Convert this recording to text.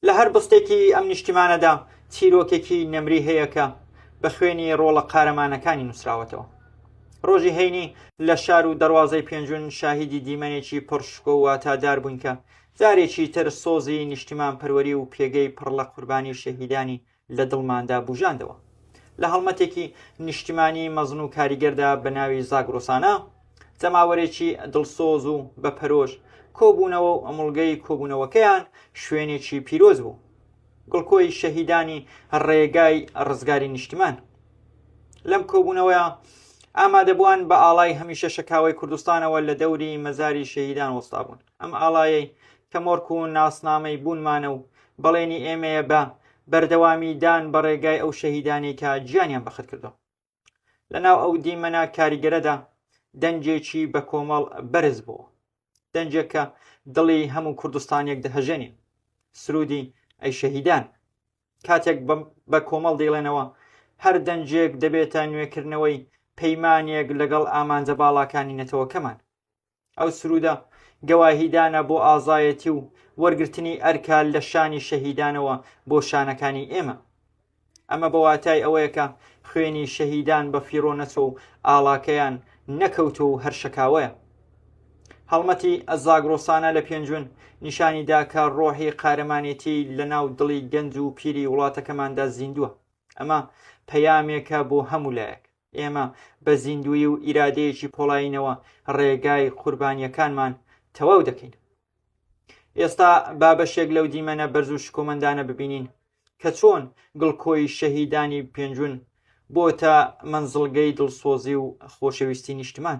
لە هەر بستێکی ئەم نیشتیمانەدا چیرۆکێکی نەمری هەیە کە بە خوێنی ڕۆڵە قارەمانەکانی نووسراوەتەوە. ڕۆژی هەینی لە شار و دەواازەی پێنجون شاهیدی دیمەنێکی پڕشکۆ واتادار بووین کە جارێکی تر سۆزی نیشتیمان پەروەری و پێگەی پڕ لە قوربانی شەهیدانی لە دڵماندا بووژاندەوە. لە هەڵمەتێکی نیشتیمانی مەزن و کاریگەردا بە ناوی زاگرۆسانە، جەماوەرێکی دڵسۆز و بە پەرۆش کۆبوونەوە و ئەمڵگەی کۆبوونەوەکەیان شوێنێکی پیرۆز بوو. گڵکۆی شەهیدانی ڕێگای ڕزگاری نیشتیمان. لەم کۆبوونەوەیە ئامادەبووان بە ئاڵای هەمیشە شەکاوەی کوردستانەوە لە دەوری مەزاری شەهیدان وەستابوون. ئەم ئاڵایەی کە مۆرک و ناسنامەی بوونمانە و بەڵێنی ئێمەیە بە بەردەوامی دان بە ڕێگای ئەو شەهیدانەی کە گیانیان بەخت کردووە. لە ناو ئەو دیمەنە کاریگەرەدا دەنگێکی بە کۆمەڵ بەرز بووە. دەنگێک کە دڵی هەموو کوردستانێک دەهەژێنێ. سرودی ئەی شەهیدان. کاتێک بە کۆمەڵ دەیڵێنەوە هەر دەنگێک دەبێتە نوێکردنەوەی پەیمانێک لەگەڵ ئامانجە باڵاکانی نەتەوەکەمان. ئەو سرودە گەواهیدانە بۆ ئازایەتی و وەرگرتنی ئەرکە لە شانی شەهیدانەوە بۆ شانەکانی ئێمە ئەمە بە واتای ئەوەیە کە خوێنی شەهیدان بە فیڕۆ نەچۆ و ئاڵاکەیان نەکەوتۆ و هەرشەکاوەیە هەڵمەتی ئەزاگرۆسانە لە پێنجون نیشانی داکە ڕۆحی قارەمانێتی لە ناو دڵی گەنج و پیری وڵاتەکەماندا زیندووە ئەمە پەیامێکە بۆ هەموو لایەک ئێمە بە زیندوی و ئیرادەیەکی پۆڵاینەوە ڕێگای قوربانیەکانمان تەواو دەکەین ئێستا با بەشێک لەو دیمەنە بەرز و شکۆمەندانە ببینین کە چۆن گڵکۆی شەهیدانی پێنجون بۆتە منزڵگەی دڵسۆزی و خۆشەویستی نیشتمان